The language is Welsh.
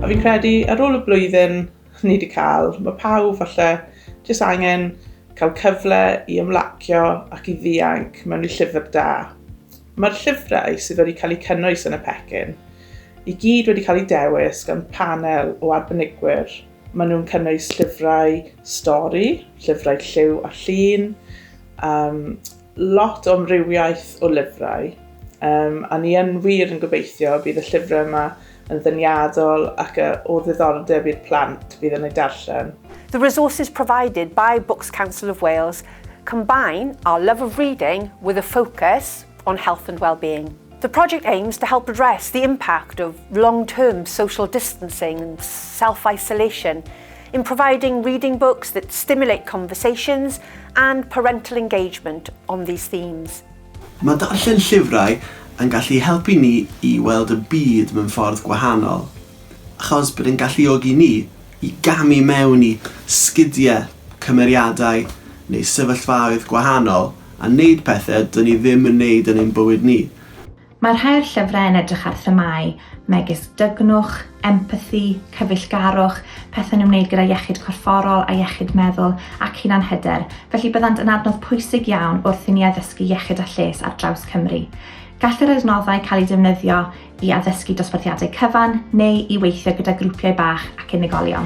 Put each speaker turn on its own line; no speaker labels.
A fi'n credu ar ôl y blwyddyn ni wedi cael, mae pawb falle jyst angen cael cyfle i ymlacio ac i ddianc mewn i llyfr da. Mae'r llyfrau sydd wedi cael eu cynnwys yn y pecyn i gyd wedi cael eu dewis gan panel o arbenigwyr. Maen nhw'n cynnwys llyfrau stori, llyfrau lliw a llun, um, lot o amrywiaeth o lyfrau, um, a ni yn wir yn gobeithio bydd y llyfrau yma yn ddyniadol ac o ddiddordeb i'r plant fydd yn ei darllen. The resources
provided by Books Council of Wales combine our love of reading with a focus on health and well-being. The project aims to help address the impact of long-term social distancing and self-isolation in providing reading books that stimulate conversations and parental engagement on these themes. Mae darllen
llyfrau yn gallu helpu ni i weld y byd mewn ffordd gwahanol, achos bydd yn galluogi ni i gamu mewn i sgidiau, cymeriadau neu sefyllfaoedd gwahanol a wneud pethau dyn ni ddim yn wneud yn ein bywyd ni. Mae rhai'r
llyfrau yn edrych ar themâu megis dygnwch, empathi, cyfeillgarwch, pethau'n ymwneud gyda iechyd corfforol a iechyd meddwl ac hunanhyder, felly byddant yn adnodd pwysig iawn wrth i ni addysgu iechyd a lles ar draws Cymru. Gall yr adnoddau cael eu defnyddio i addysgu dosbarthiadau cyfan neu i weithio gyda grwpiau bach ac unigolion.